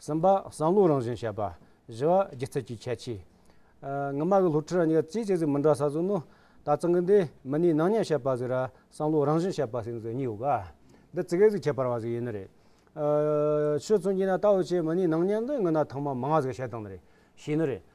གསུམ་པ། བསམ་བློའི་རང་བཞིན་བཤད་པ། བཞི་བ། སྒྱུ་རྩལ་གྱི་ཁྱད་ཆོས། ངྷི་མ་གི་སློབ་ཁྲིད་ར་ཉི་ག་ཚེས་གཅིག་ཚེ་མི་འདྲ་ས་ཟུར་ནོ། ད་ཚང་གི་འདི་མི་ནི་ནང་ཉན་བཤད་པ་ཟིག་ར་བསམ་བློའི་རང་བཞིན་བཤད་པ་ཟིག་ཟིག་གཉིས་ཡོད་ག། འདི་ཚིག་གེ་ཟིག་ཁྱད་པར་བ་ཟིག་ཡིན་ནི་རེད། ཆོས་མཚོན་གྱིས་ན་ལྟ་བ་ཆེ་མི་ནི་ནང་ཉན་འདི་ངྷི་ན་ཐང་མ་མང་བ་ཟིག་བཤད་སྟངས་ནི་རེད་བྱས་ནི་རེད།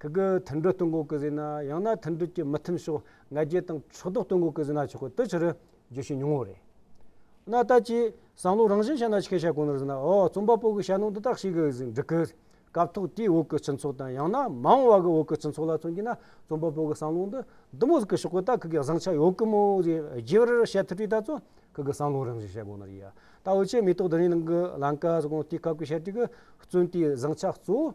ཁྱེད་ཀྱིས་མཐུན་འགྲུལ་གཏོང་སྒོ་ཀི་ཟི་ན་ཡང་ན་མཐུན་འགྲུལ་གྱི་མི་མཐུན་ཕྱོགས་ང་རྒྱལ་དང་ཕྱོགས་གཏོགས་གཏོང་སྒོ་ཀི་ཟི་ན་ཆོག་གི་དུ་ཆུ་རུ་རྒྱུ་ཞིག་ཉུང་ངུ་རེད། ན་ལྟ་ཅི། བསམ་བློ་རང་བཞིན་ཤ་ན་ཆི་ཁའི་ཤ་གོང་ནས་ཟིན་ན་ཨོ་རྩོམ་པ་པོ་གི་ཤ་ནོར་འདི་དག་ཞིག་གི་ཟིག་འགྲིག་གི། སྐབས་ཐོག་དེའི་འོག་གི་སྤྱི་ཚོགས་དང་ཡང་ན་མང་བ་གི་འོག་གི་སྤྱི་ཚོགས་ལ་མཚོན་གྱི་ན་རྩོམ་པ་པོ་གི་བསམ་བློ་འདི་འདི་མོ་ཟིག་གི་ཤོག་གི་ད་ཁི་གི་བཟང་ཆ་ཡོག་གི་མོ་ཟིག་རྗེ་བར་བཤད་ཐུབ་པའི་ད་ཚོ་ཁི་གི་བསམ་བློ་རང་བཞིན་ཤ་གོང་ནས་ཡི་ཡ་ད་འོ་ཆེ་མེ་ཏོག་དེ་རིང་ནང་གི་ལང་ཀ་ཟིག་གོང་དེའི་སྐབས་ཀྱི་ཤ་ཀྲི་གི་བརྩོན་དེའི་བཟང་ཆ་གཙོ་བོ་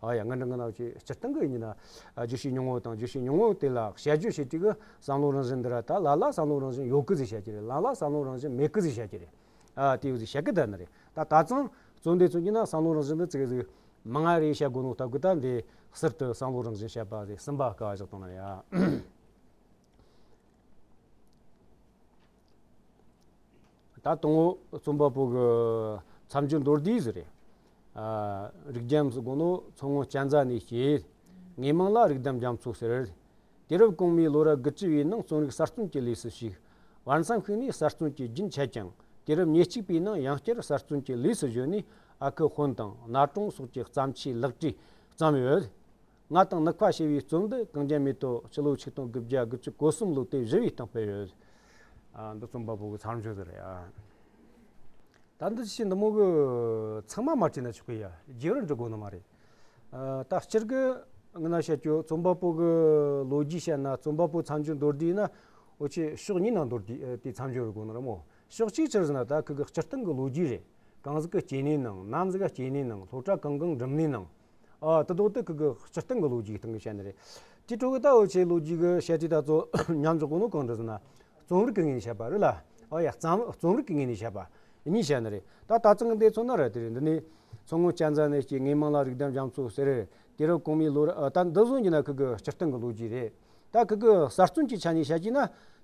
ཨ་ཡ་ང་འདྲ་ང་ནག་ཅེས་སྤྱིར་བཏང་གི་ཉིན་བརྗོད་བྱའི་ཉུང་ངུ་དང་བརྗོད་བྱའི་ཉུང་ངུ་དེ་ལ་ཞལ་བརྗོད་བྱེད་ཀྱི་བསམ་བློ་རང་བཞིན་འདི་ར་ད་ལ་ལ་བསམ་བློ་རང་བཞིན་ཡོད་ཀི་ཟིག་བྱ་གི་རེད་ལ་ལ་བསམ་བློ་རང་བཞིན་མེད་ཀི་ཟིག་བྱ་གི་རེད། དེའི་ཟིག་བྱ་གི་ད་ནི་རེད་ད་ད་ཙང་རྩོམ་འདི་མཚོན་གྱི་ན་བསམ་བློ་རང་བཞིན་འདི་བརྩེགས་ཟིག་མ་ང་རེ་བྱ་དགོས་ནོ་ད་གུས་ད་འདི་ཟིར་དུ་བསམ་བློ་རང་བཞིན་བྱ་པ་ཟིག་སིམ་པ་ག་ཟིག་གཏོང་ན་ཡ། ད་དང་བོ་རྩོམ་པ་པོ་གི་མཚམས་སྦྱོར་མདོར་བསྡུས་སུ་རེ། རིགས་རྒྱམ་སུ་དགོངས་ནོ་མཚོ་སྔོན་སྐྱ་འཛའ་ནས་སྐྱེས། ངའི་མིང་ལ་རིགས་དམ་རྒྱམ་མཚོ་ཟེར། དུས་རབས་གོང་མའི་ལོ་རབས་དགུ་བཅུ་བའི་ནང་རྩོམ་རིག་གསར་རྩོམ་གྱི་ལུས་སུ་ཞུགས། བར་མཚམས་ཤིག་ནས་གསར་རྩོམ་གྱི་རྒྱུན་ཆད་ཀྱང་དུས་རབས་ཉེར་གཅིག་པའི་ནང་ཡང་བསྐྱར་གསར་རྩོམ་གྱི་ལུས་སུ་བཞོན་ནས་ཨ་ཁུ་དཔོན་དང་ན་གྲོང་སོགས་ཀྱི་བརྩམས་ཆོས་ལེགས་བཀྲིས་བརྩམས་ཡོད། ང་དང་ནི་ཁ་ཞེས་པའི་གཙོ་འདི་གངས་ཅན་མེ་ཏོག་སྤྱི་ལོ་ཆིག་སྟོང་དགུ་བརྒྱ་དགུ་བཅུ་གོ་གསུམ་ལོ་སྟེ་བཞི་བའི་སྟེང་སྤེལ་ཡོད། འདི་རྩོམ་པ་པོ་གི་ཚར་གཅོད་དེ་རེད་ཨ། ད་འདི་ཕྱི་འདི་མོ་གི་ཚང་མ་མ་བྲིས་ན་ཆོག་གི་ཡ་རྗེས་རུ་འབྲི་དགོས་ནི་མ་རེད། ད་སྤྱིར་གི་ངི་ན་བཤད་རྒྱུ་རྩོམ་པ་པོ་གི་ལོ་རྒྱུས་བཤད་ན་རྩོམ་པ་པོའི་ཚར་གཅོད་མདོར་བསྡུས་ན་འོ་ཆོས་ཕྱོགས་གཉིས་ན་མདོར་བསྡུས་ཏེ་ཚར་གཅོད་རུ་དགོས་ནི་རེད་མོད། ཕྱོགས་གཅིག་ཕྱིར་ཟིན་ན་ད་ཁི་གི་སྤྱིར་བཏང་གི་ལོ་རྒྱུས་རེད། གངས་ཀི་སྐྱེས་ནི་ནང་གནམ་གི་སྐྱེས་ནི་ནང་ལྷོ་བྲག་གངས་གངས་འབྲུམ་ནི་ནང། ད་དུང་སྟེ་ཀུན་གྱི་སྤྱིར་བཏང་གི་ལོ་རྒྱུས་ཀྱི་སྟེང་གི་བཤད་ནི་རེད། སྤྱིར་ཀྲུང་གོའི་ལྟ་བའི་ཆེད་ལོ་རྒྱུས་ཀྱི་བཤད་ཚུལ་དག་གཙོ་ཉམས་ཀྱི་དགོངས་དོན་གང་དུ་ཟིན་ན། རྩོམ་རིག་གི་ངོས་ནས་བཤད་པ་རེད་ལ། རྩོམ་རིག་གི་ངོས་ནས་བཤད་པ་གཉིས་བཤད་ནི་རེད། ད་ལྟ་ཚང་འདིའི་ཚོ་ན་རེད་དེ་འདི་ནས་མཚོ་སྔོན་སྤྱན་རྫ་ནས་སྐྱེས་ངན་མང་ལ་རིགས་འདམ་རྒྱ་མཚོ་ཟེར། དེ་རུ་གོང་མའི་ལོ་རེད་ད་འདི་བཟུང་གྱི་ན་ཀུན་གྱི་སྤྱིར་བཏང་གི་ལོ་རྒྱུས་རེད། ད་ཀུན་གྱི་གསར་རྩོམ་གྱི་ཆ་ནས་བཤད་ཀྱི་ན།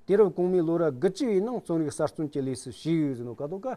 དེ་རུ་གོང་མའི་ལོ་ར་དགུ་བཅུ་བའི་ནང་རྩོམ་རིག་གསར་རྩོམ་གྱི་ལས་སུ་ཞུགས་ཡོད་ཟིན་ནོ་ཀ་དོ་ཀ་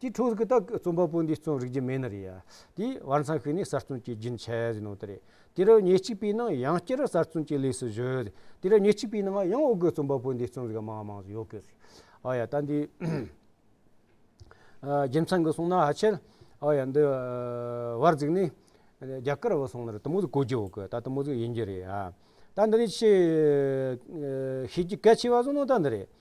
དེའི་འཕྲོ་གི་རྟགས་རྩོམ་པ་པོ་འདིས་རྩོམ་རིག་རྒྱུ་མེད་ན་རེད་ཡ། དེའི་བར་མཚམས་ཤིག་ནས་གསར་རྩོམ་གྱི་རྒྱུན་ཆད་ཟིན་གནང་དེ་རེད། དེ་རུ་ཉེས་གཅིག་པའི་ནང་ཡང་བསྐྱར་གསར་རྩོམ་གྱི་ལས་སུ་བཞུད། དེ་རུ་ཉེས་གཅིག་པའི་ནང་ཡང་འོག་གི་རྩོམ་པ་པོ་འདིའི་རྩོམ་རིག་མང་མང་ཡོད་དགོས་རེད། ཨོ་ཡ་ད་འདི། རྒྱུ་མཚན་གྱི་སོང་ན་ཧ་ཆད། ཨོ་ཡ་འདི། བར་གཟིགས་ནས། རྒྱ་གར་བ་སོང་ན་རི་དྭགས་མོ་ཟིག་གོ་རྒྱུ་ཡོད་གི་ད་རི་དྭགས་མོ་ཟིག་ཡིན་རྒྱུ་རེད་ཡ། ད་འདི་ནས་ཆེས། ཤེས་རྒྱུ་གལ་ཆེ་བ་སོང་ན་ད་འདི་རེད།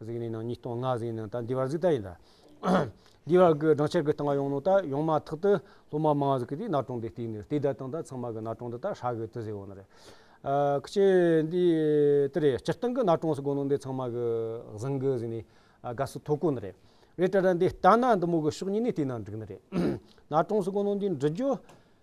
གཟིགས་ནས་ནང་ཉིས་སྟོང་ལྔ་གཟིགས་ནས་ད་འདི་བར་གཟིགས་ད་ཡིན། འདི་བར་གྱི་སྦྲང་ཆར་གྱི་སྟངས་ཡོང་ནོ་ད་ཡོང་མ་ཐག་ཏུ་སློབ་མ་མང་གཟིགས་ཀྱིས་ནག་དྲོང་དེ་བཏིག་ནས་བལྟས་ད་དང་ད་ཚང་མ་གི་ནག་དྲོང་དེ་ད་ཧྲག་གི་དུ་ཟེར་འོང་ན་རེད། ཁྱི་ཆེ་འདི་དེ་རེད་སྤྱིར་བཏང་གི་ནག་དྲོང་ཟེར་དགོས་ནོ་འདི་ཚང་མ་གི་གཟིང་གི་གཟིགས་ནས་དགའ་བསུ་ཐོག་དཀོན་ནི་རེད། རེད་ཏྲ་ཏྲ་འདི་ལྟ་ན་འདི་མོ་གི་ཕྱོགས་གཉིས་ནས་བལྟས་ན་འགྲིག་ནི་རེད། ནག་དྲོང་ཟེར་དགོས་ནོ་འདི་འབྲི་རྒྱུ།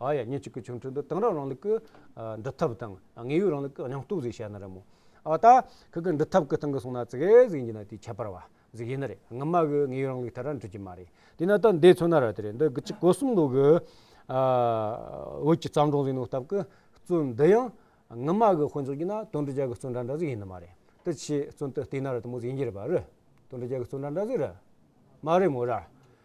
ཨ་ཡ་ཉིན་གཅིག་གི་ཆོ་འཕྲུལ་འདི་དེང་རབས་རིང་ལུགས་ཀྱི་འབྲི་ཐབས་དང་དངོས་ཡོད་རིང་ལུགས་ཀྱི་སྙིང་སྟོབས་ཟིག་བཤད་ན་རེད་མོ། ཨ་ད། ཁྱོད་ཀྱི་འབྲི་ཐབས་ཀྱི་སྟེང་གི་གསུང་ན་ཙི་གེ་ཟིག་ཡིན་ན་དེ་ཁྱད་པར་བ་ཟིག་ཡིན་ནི་རེད་སྔོན་མ་གི་དངོས་ཡོད་རིང་ལུགས་དེ་ར་འགྲུབ་ཀྱི་མ་རེད། དེས་ན་ད་འདི་མཚོན་ན་ར་དེ་རེད་འདི་གཅིག་གོ་གསུམ་ལུགས་ཀྱི་བོད་ཀྱི་བརྩམས་སྒྲུང་ཟིག་ནོར་སྟབས་ཀྱི་བཙོན་འདི་ཡང་སྔོན་མ་གི་དཔོན་ཚོགས་ཀྱི་ན་དོན་འབྲི་བྱ་གི་བཙོན་འདྲ་འདྲ་ཟིག་ཡིན་ནི་མ་རེད་དེ་ཆེས་བཙོན་དུ་བཏུས་ན་ར་དེ་མོ་ཟིག་ཡིན་གྱི་རེད་པ་རེད་དོན་འབྲི་བྱ་གི་བཙོན་འདྲ་འདྲ་ཟིག་རེད་མ་རེད་མོ་ར།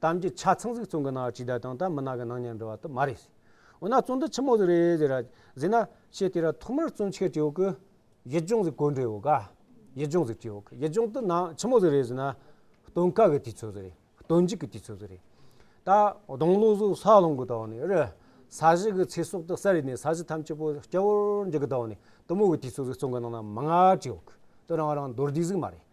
གཏམ་གྱི་ཆ་ཚང་གཟིགས་བཙོན་གྱི་ནང་ཇི་ལྟར་དང་ད་མི་ནག་གི་ནང་ཉར་འགྲོ་བ་དུ་མ་རེད། འོ་ན་བཙོན་དུ་ཆི་མོ་ཟིག་རེད་ཟེར་ར་ཟིག་ན་ཆེ་དེ་ར་ཐོག་མར་བཙོན་ཆེར་བྱེད་འོག་གི་ཡིད་སྦྱོང་ཟིག་གོ་འདྲེ་འོག་ག་ཡིད་སྦྱོང་ཟིག་བྱེད་འོག་གི་ཡིད་སྦྱོང་དུ་ནང་ཆི་མོ་ཟིག་རེད་ཟེར་ན་སྟོན་དཀའ་གི་དུས་ཚོད་ཟིག་རེད་སྟོན་འཇིག་གི་དུས་ཚོད་ཟིག་རེད། ད་སྡོང་ལོ་ཟིག་ས་ལོང་གི་ཐོག་ནས་རི་ས་གཞི་གི་ཚེ་སྲོག་དུ་ས་རིས་ནས་ས་གཞི་ཐམས་ཅད་པོ་སྐྱ་བོར་འཇིག་གི་ཐོག་ནས་གཏི་མུག་གི་དུས་ཚོད་ཟིག་བཙོན་གྱི་ནང་ན་མི་ང་བྱེད་འོག་གི་དུ་རང་རང་མདོར་བསྡུས་ཟིག་མ་རེད།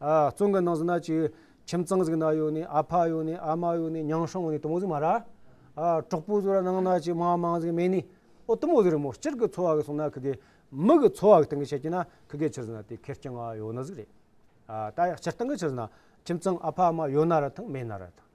བཙོན་གྱི་ནང་ཟིན་ན་ཅིག། ཁྱིམ་ཚང་ཟིག་ན་ཡོད་ནི་ཨ་ཕ་ཡོད་ནི་ཨ་མ་ཡོད་ནི་ཉང་ཧྲོང་ཡོད་ནི་དུ་མོ་ཟིག་མ་ར། གྲོགས་པོ་ཟིག་ར་ནང་ན་ཅིག་མ་མང་ཟིག་མེད་ནི། ཨོ་དུ་མོ་ཟིག་རི་མོ་སྤྱིར་གྱི་འཚོ་བ་གི་སོང་ན་ཁི་གེ། མི་གི་འཚོ་བ་གི་སྟེང་གི་ཆ་གྱི་ན་ཁི་གེ་ཆུ་ཟིན་ན་དེ་ཁེར་རྐྱང་ཡོད་ན་ཟིག་རེད། ད་ཡ་སྤྱིར་སྟེང་གི་ཆུ་ཟིན་ན་ཁྱིམ་ཚང་ཨ་ཕ་ཨ་མ་ཡོད་ན་ར་དང་མེད་ན་ར་དང།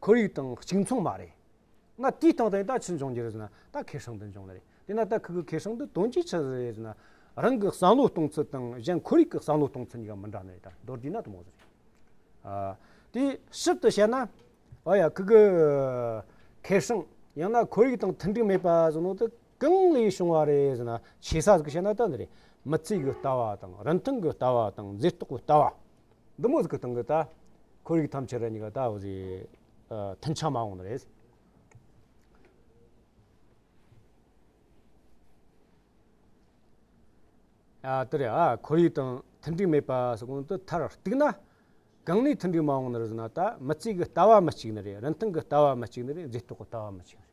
ཁོར་ཡུག་དང་གཅིག་མཚུངས་མ་རེད། ང་དེའི་སྟེང་དུ་ཡང་ད་ཅི་འབྱུང་རྒྱུ་རེད་ཟེར་ན་ད་ཁེ་ཧྲེང་དུ་འབྱུང་ནི་རེད། དེ་ན་ད་ཁོ་གི་ཁེ་ཧྲེང་དུ་དོན་ཅི་ཆགས་ཟེར་ན། རང་གི་བསམ་བློ་གཏོང་ཚུལ་དང་གཞན་ཁོར་ཡུག་གི་བསམ་བློ་གཏོང་ཚུལ་གཉིས་ཀ་མི་འདྲ་ནི་རེད་ད་མདོར་བསྡུས་ན་དུ་མ་ཟེར། དེ་ཞིབ་ཏུ་བཤད་ན། ཨོ་ཡ་ཁོ་གི་ཁེ་ཧྲེང་ཡང་ན་ཁོར་ཡུག་དང་མཐུན་འགྲིག་མེད་པ་ཟེར་ནོ་ད། གང་ལས་བྱུང་བ་རེད་ཟེར་ན་ཆེ་ས་ཟིག་བྱས་ན་ལྟ་འདི་རེད། མི་ཚེ་གི་ལྟ་བ་དང་རིན་ཐང་གི་ལྟ་བ་དང་མཛེས་རྟོག་གི་ལྟ་བ། འདི་མོ་ཟིག་གི་སྟེང་གི་ལྟ། ཁོར་ཡུག་ཐམས་ཅད་རེད་གཉིས་ཀ་ལྟ་བ་ཟིག་མཐུན་ཆ་མང་བོ་ནི་རེད། ལྟ་རེད། ཁོར་ཡུག་དང་མཐུན་འགྲིག་མེད་པ་ཟིག་གོང་དུ་མཐར་གཏུགས་ན། གང་ལས་མཐུན་འགྲིག་མང་བོ་ནི་རེད་ཟེར་ན་ལྟ། མི་ཚེ་གི་ལྟ་བ་མི་གཅིག་ནི་རེད་རིན་ཐང་གི་ལྟ་བ་མི་གཅིག་ནི་རེད་མཛེས་རྟོག་གི་ལྟ་བ་མི་གཅིག་ནི་རེད།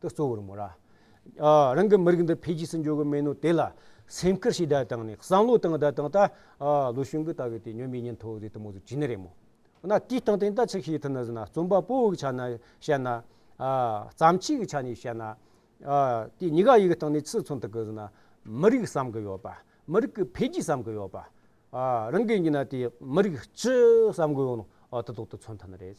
དུ་གཙོ་བོར་མོ་ར། རང་གི་མི་རིགས་འདི་འཕེལ་རྒྱས་སུ་འགྱུར་བའི་སྨན་ནོ་དེ་ལ་སེམས་ཁུར་ཞིག་བརྡ་བཏང་ནས་བསམ་བློ་བཏང་བརྡ་བཏང་ད་ལོ་གཞུང་གི་ལྟ་བའི་དེ་ཉོན་མི་ཉན་ཐོག་དེ་དུ་མོ་དུ་ཇི་ནི་རེད་མོ་ན་དེ་སྟངས་དེ་འདྲ་ཅིག་ཤེས་ཐུབ་ན་ཟེར་ན་རྩོམ་པ་པོ་གི་ཆ་ནས་བཤད་ན། བརྩམས་ཆོས་ཀྱི་ཆ་ནས་བཤད་ན། དེ་གཉིས་ཀ་ཡི་གི་སྟེང་ནས་ཅི་མཚོན་ཐུབ་གི་ཟེར་ན། མི་རིགས་བསམ་གི་ཡོད་པ། མི་རིགས་ཀྱི་འཕེལ་རྒྱས་བསམ་གི་ཡོད་པ། རང་གི་ཉིད་ན་དེ་མི་རིགས་སྤྱི་བསམ་གི་ཡོད་ནོ་དེ་དག་དུ་མཚོན་ཐུབ་ནི་རེད།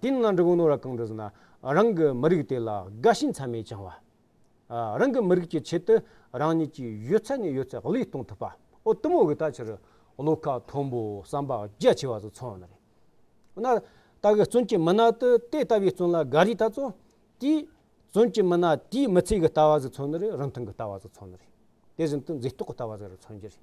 དེའི་སྔ་འགྲོ་ནོར་བ་གང་དུ་ཟིན་ན་རང་གི་མི་རིགས་དེ་ལ་དགའ་ཞེན་ཚད་མེད་བཅང་བ། རང་གི་མི་རིགས་ཀྱི་ཆེད་དུ་རང་ཉིད་ཀྱི་ཡོད་ཚད་ནས་ཡོད་ཚད་བློས་གཏོང་ཐུབ་པ་འོ་དུམ་བོ་གི་ད་ཕྱིར་བློ་ཁ་མཐོན་པོ་བསམ་པ་རྒྱ་ཆེ་བ་ཚོ་ཚང་ནི་རེད། འོ་ན་ད་གི་བཙོན་གྱི་མི་སྣ་དེ་དེ་ལྟ་བུའི་བཙོན་ལ་དགའ་རིས་ད་ཚོ་དེས་བཙོན་གྱི་མི་སྣ་དེའི་མི་ཚེ་གི་ལྟ་བ་ཟིག་ཚང་ནི་རེད་རིན་ཐང་གི་ལྟ་བ་ཟིག་ཚང་ནི་རེད་དེ་བཞིན་དུ་མཛེས་རྟོག་གི་ལྟ་བ་ཟིག་རེད་ཚང་གྱི་རེད།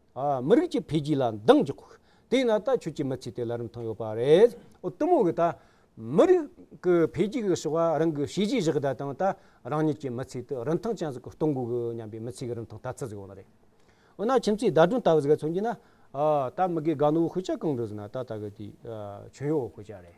མི་རིགས་ཀྱི་འཕེལ་རྒྱས་ལ་འདང་རྒྱག་དགོས། དེས་ན་ད་ཁྱོད་ཀྱི་མི་ཚེ་དེ་ལ་རིན་ཐང་ཡོད་པ་རེད། གཏི་མུག་གིས་ད་མི་རིགས་ཀྱི་འཕེལ་རྒྱས་ཀྱི་བྱ་བ་རང་གི་བྱས་རྗེས་བཞག་གི་ད་དང་ད་རང་ཉིད་ཀྱི་མི་ཚེ་དེ་རིན་ཐང་ཅན་ཟིག་གི་གཏོང་དགོས་གི་སྙམ་པའི་མི་ཚེ་གི་རིན་ཐང་ལྟ་ཚུལ་ཟིག་ཡོང་ན་རེད། འོ་ན་ཁྱིམ་མཚེས་ཟླ་སྒྲོན་ལྟ་བུ་ཟིག་ག་ཚོད་འགྱིས་ན། ད་མི་དགའི་དགའ་ནུ་བོ་ཁོས་ཅག་གང་འགྲོ་ཟིག་ན་ད་ད་གི་དེ། ཁྱོད་ཡོ་བོ་ཁོས་ཅག་རེད།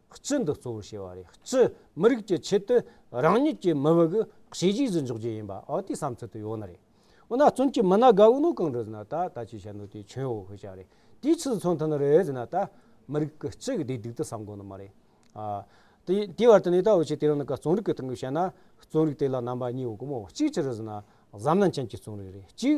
སྤྱི་འདི་གཙོ་བོར་བྱས་པ་རེད་སྤྱི་མི་རིགས་ཀྱི་ཆེད་དུ་རང་ཉིད་ཀྱི་མི་དམིགས་གཞི་གཞིས་སུ་འཇོག་རྒྱུ་ཡིན་པ་ཨོ་དེའི་བསམ་ཚུལ་དུ་ཡོད་ན་རེད་འོ་ན་བཙུན་གྱི་མི་ན་དགའ་བོ་ནོ་གང་རེད་ཟེར་ན་ད་ད་ཅི་བྱ་ནོ་དེ་ཁྱོད་འོ་ཧོ་བྱ་རེད་དེའི་ཆེད་དུ་མཚོན་ཐུབ་ན་རེད་ཟེར་ན་ད་མི་རིགས་ཀྱི་སྤྱི་གི་བདེ་སྡུག་དེ་བསམ་དགོས་ནི་མ་རེད་ཨ། དེ་དེའི་བར་དུ་ནས་ད་འོ་ཆེ་དེ་རང་ནི་ག་བཙོན་རིགས་ཀྱི་སྟེང་གི་བྱས་ན་བཙོན་རིགས་དེ་ལ་རྣམ་པ་གཉིས་ཡོད་དགོས་མོད་གཅིག་ཅི་རེད་ཟེར་ན་གཟའ་མནན་ཅན་གྱི་བཙོན་རིགས་རེད་གཅིག།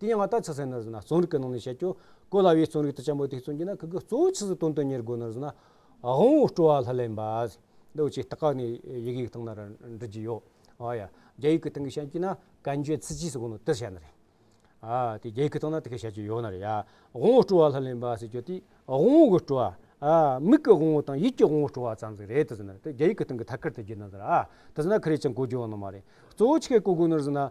དེ་ཡང་ང་ལྟར་ཆགས་སེ་ནར་ཟིན་ན་རྩོམ་རིག་གི་ནང་ནས་བཤད་ཀྱོ། གོ་སླ་བའི་རྩོམ་རིག་ཏུ་གཅེན་པོ་དེ་བརྩོན་གྱི་ན་ཁི་གི་གཙོ་བོ་ཆི་ཟི་དོན་དུ་གཉེར་དགོས་ནར་ཟིན་ན། དབང་བོ་སྤྲོ་བ་ལྷ་ལས་འབའ། འདི་བཅས་སྟག་ཁ་ནས་ཡི་གེ་ཡིག་ཐང་ན་ར་འབྲི་གྱི་ཡོད། ཨ་ཡ། རྒྱ་ཡིག་གི་སྟེང་གི་བཤད་ཀྱི་ན་གན་རྒྱའི་ཚི་ཇི་སི་གོ་ནོ་དེར་བཤད་ན་རེད། ཨ། དེ་རྒྱ་ཡིག་གི་སྟེང་ན་དེ་གས་བཤད་ཀྱི་ཡོད་ན་རེད། དབང་བོ་སྤྲོ་བ་ལྷ་ལས་འབའ་ཟེར་ཀྱོ་དེ་དབང་བོ་གི་སྤྲོ་བ། ཨ། མིག་གི་དབང་བོ་དང་ཡིད་ཀྱི་དབང་བོ་སྤྲོ་བ་ཙམ་ཟིག་རེད་དུ་ཟིན་ན་དེ་རྒྱ་ཡིག་གི་སྟེང་གི་ཐད་ཀར་དུ་བགྱིས་ན་ཟིན་ཨ། དེ་ཟིན་ན་ཁི་རེ་ཅང་གོ་རྒྱུ་ཡོད་ནི་མ་རེད། གཙོ་བོ་ཆི་གས་གོ་དགོས་ནར་ཟིན་ན།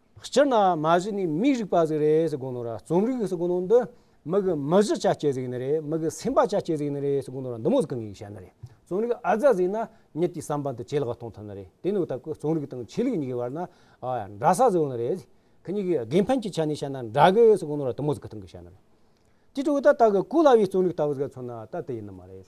སྤྱིར་ན་མ་གཞི་ནི་མིའི་རིག་པ་ཟིག་རེད་ཟེར་དགོས་ནོ་ར་རྩོམ་རིག་ཟེར་དགོས་ནོ་འདི་མི་གི་མི་གཞི་ཆ་སྐྱེ་ཟིག་ནི་རེད་མི་གི་སེམས་པ་ཆ་སྐྱེ་ཟིག་ནི་རེད་ཟེར་དགོས་ནོ་ར་འདི་མོ་ཟིག་གི་ངེས་བཤད་ནི་རེད་རྩོམ་རིག་ཨ་ཛ་ཟིག་ན་ཉིད་ཀྱི་བསམ་པ་འདི་ཇེ་ལེགས་གཏོང་ཐུབ་ནི་རེད་དེ་ནི་ད་གུ་རྩོམ་རིག་དང་ཆོས་ལུགས་གཉིས་ཀྱི་བར་ན་འདྲ་ས་ཟིག་ནི་རེད་གི་གཉིས་ཀྱི་དགེ་ཕན་གྱི་ཆ་ནས་བཤད་ན་འདྲ་གི་ཟེར་དགོས་ནོ་ར་དུ་མོ་ཟིག་གི་ཐང་གི་བཤད་ནི་རེད་དེ་ཕྲུ་གུ་ད་ད་གི་གུ་ལ་བའི་རྩོམ་རིག་ལྟ་བུ་ཟིག་ཚོར་ན་ད་དེ་ཡིན་ནི་མ་རེད།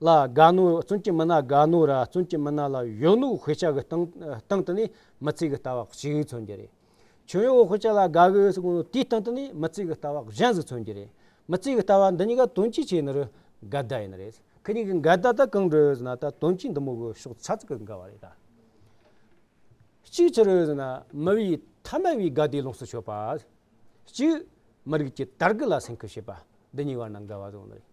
ལ་དགའ་ནོ་བཙུན་གྱི་མི་ན་དགའ་ནོ་ར་བཙུན་གྱི་མི་ན་ལ་གཞོན་ནུ་དཔེ་ཆ་གི་སྟེང་སྟེང་དུ་ནི་མི་ཚིག་གི་ལྟ་བ་གཅིག་མཚོན་གྱི་རེད། ཁྱོད་ཡོའོ་དཔེ་ཆ་ལ་དགའ་གི་ཡོད་ཟེར་དགོས་ན་དེའི་སྟེང་དུ་ནི་མི་ཚིག་གི་ལྟ་བ་གཞན་ཟིག་མཚོན་གྱི་རེད། མི་ཚིག་གི་ལྟ་བ་འདི་གཉིས་ཀ་དོན་སྤྱི་ཆེ་ནི་རུ་འགལ་ཟླ་ཡིན་ནི་རེད། ཁི་གཉིས་ཀྱི་འགལ་ཟླ་དེ་གང་འདྲ་ཡོད་ཟེར་ན་ད་དོན་སྤྱི་འདི་མོ་གི་ཕྱོགས་ཚ་ཚིག་གི་འགལ་བ་རེད་ད། གཅིག་ཅི་རེད་ཟེར་ན་མི་བའི་ཐ་མལ་བའི་དགའ་བདེ་ལོངས་སུ་སྤྱོད་པ། གཅིག། མི་རིགས་ཀྱི་དར་རྒུད་ལ་སེམས་ཁུར་བྱེད་པ། འདི་གཉིས་བར་ན་འགལ་བ་ཟེར་བ་འདི་རེད།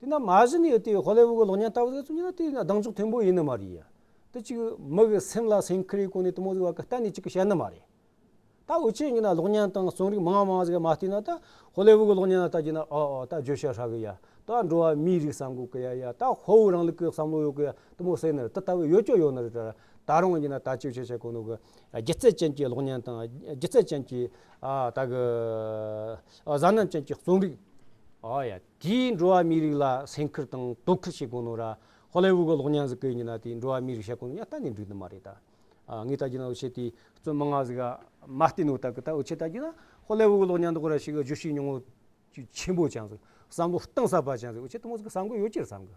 དེས་ན་མ་གཞི་ནས་དེ་ཧོ་ལེ་ཝུ་གི་གློག་བརྙན་ལྟ་བུ་ཟེར་ཚུལ་ནི་དེ་སྡང་ཕྱོགས་མཐོན་པོ་ཡིན་ནི་མ་རེད། དེ་གཅིག་མི་གི་སེམས་ལ་སེམས་ཁུར་ཡི་སྒོ་ནས་དུ་མ་བཟོས་བ་གི་གཏན་ནས་གཅིག་གི་བཤད་ནི་མ་རེད། ད་འུ་ཅག་གཉིས་ན་གློག་བརྙན་དང་རྩོམ་རིག་མང་མང་ཟིག་མ་བལྟས་ན་ད་ཧོ་ལེ་ཝུ་གི་གློག་བརྙན་ལ་ལྟ་རྒྱུ་ན་ཨོ་ཨོ་ད་བརྗོད་བྱ་ཧྲ་གི་ཡ་ད་འགྲོ་བ་མིའི་རིགས་བསམ་གོ་གི་ཡ་ཡ་ད་ཧོ་ཝུ་རང་ལུགས་ཀི་བསམ་བློ་ཡོད་གི་ཡ་དུ་མོ་སེ་ནི་དེ་ལྟ་བུ་ཡོད་ཀྱོ་ཡོད་ནི་རེད་ད་ད་རུང་གཉིས་ན་ད་བརྗོད་བྱ་ཆ་གོ་ནོ་གི་སྒྱུ་རྩལ་ཅན་གྱི་གློག་བརྙན་དང་སྒྱུ་རྩལ་ཅན་གྱི་ད་གི། གཟའ་རྣམས་ཅན་གྱི་རྩོམ་རིག། ཨོ་ཡ། དེས་འགྲོ་བ་མིའི་རིགས་ལ་སེམས་ཁུར་དང་དོ་ཁུར་བྱེད་དགོས་ནོ་ར། ཧོ་ལེ་ཝུ་གི་གློག་བརྙན་གཟིགས་སྐད་ཉིན་ན་དེས་འགྲོ་བ་མིའི་རིགས་ཤ་ཀུན་ལ་གཏན་ནས་འགྲིག་ནི་མ་རེད་ད། ངས་ལྟ་རྒྱུ་ན་འུ་ཆེ་དེས་རྩོམ་མི་ལྔ་གཟིགས་ཨ་མ་བསྟན་འོ་ད་གི་ད་འུ་ཆེས་ལྟ་རྒྱུ་ན་ཧོ་ལེ་ཝུ་གི་གློག་བརྙན་དག་ར་ཞིག་གི་བརྗོད་གཞི་ཉུང་ངུ་ཆེན་པོ་ཅང་གཟིགས་བསམ་བློ་གཏིང་ཟབ་པ་ཅང་གཟིགས་འུ་ཆེ་དེ་མོ་གཟིགས་ཀི་བསམ་གི་ཡོད་ཅི་རེད་བསམ་གི།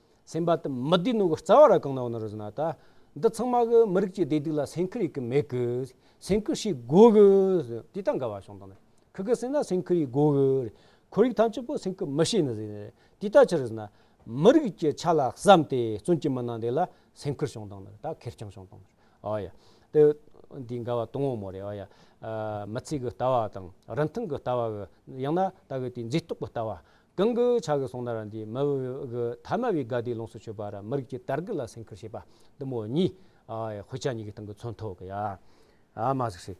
སེམས་པ་དུ་མི་བདེ་ནོ་གི་རྩ་བ་ར་གང་ན་བ་ན་རུ་ཟི་ན་ད། འདི་ཚང་མ་གི་མི་རིགས་ཀྱི་བདེ་སྡུག་ལ་སེམས་ཁུར་ཡི་གི་མེད་གི། སེམས་ཁུར་བྱེད་དགོས་གི། དེ་ད་འགལ་བ་བྱུང་དང། ཁུ་གི་སེམས་ན་སེམས་ཁུར་ཡི་དགོས་གི། ཁོར་ཡུག་ཐམས་ཅད་པོ་སེམས་ཁུར་མི་བྱེད་ནི་ཟི། དེ་ད་ཆི་རུ་ཟི་ན། མི་རིགས་ཀྱི་ཆ་ལ་བསམ་སྟེ་བཙུན་གྱི་མི་ནང་དེ་ལ་སེམས་ཁུར་བྱུང་དང་ད་ཁེར་རྐྱང་བྱུང་དང། ཨོ་ཡ། དེ་འདི་འགལ་བ་དུང་བོ་མོ་རེད་ཨོ་ཡ། མི་ཚེ་གི་ལྟ་བ་དང་རིན་ཐང་གི་ལྟ་བ་གི། ཡང་ན་ད་གི་དེ་མཛེས་རྟོག་གི་ལྟ་བ། གང་གི་ཕྱག་གིས་སོང་ན་ར་འདི་མི་གི་ཐ་མ་བའི་དགའ་བདེའི་ལོངས་སུ་སྤྱོད་པ་ར་མི་རིགས་ཀྱི་དར་གི་ལ་སེང་ཁུར་བྱེད་པ་འདི་མོ་གཉིས། དཔེ་ཆ་གཉིས་ཀྱི་སྟེང་གི་མཚོན་ཐོག་གི་ཡ་མ་གཟིགས་ཤིག།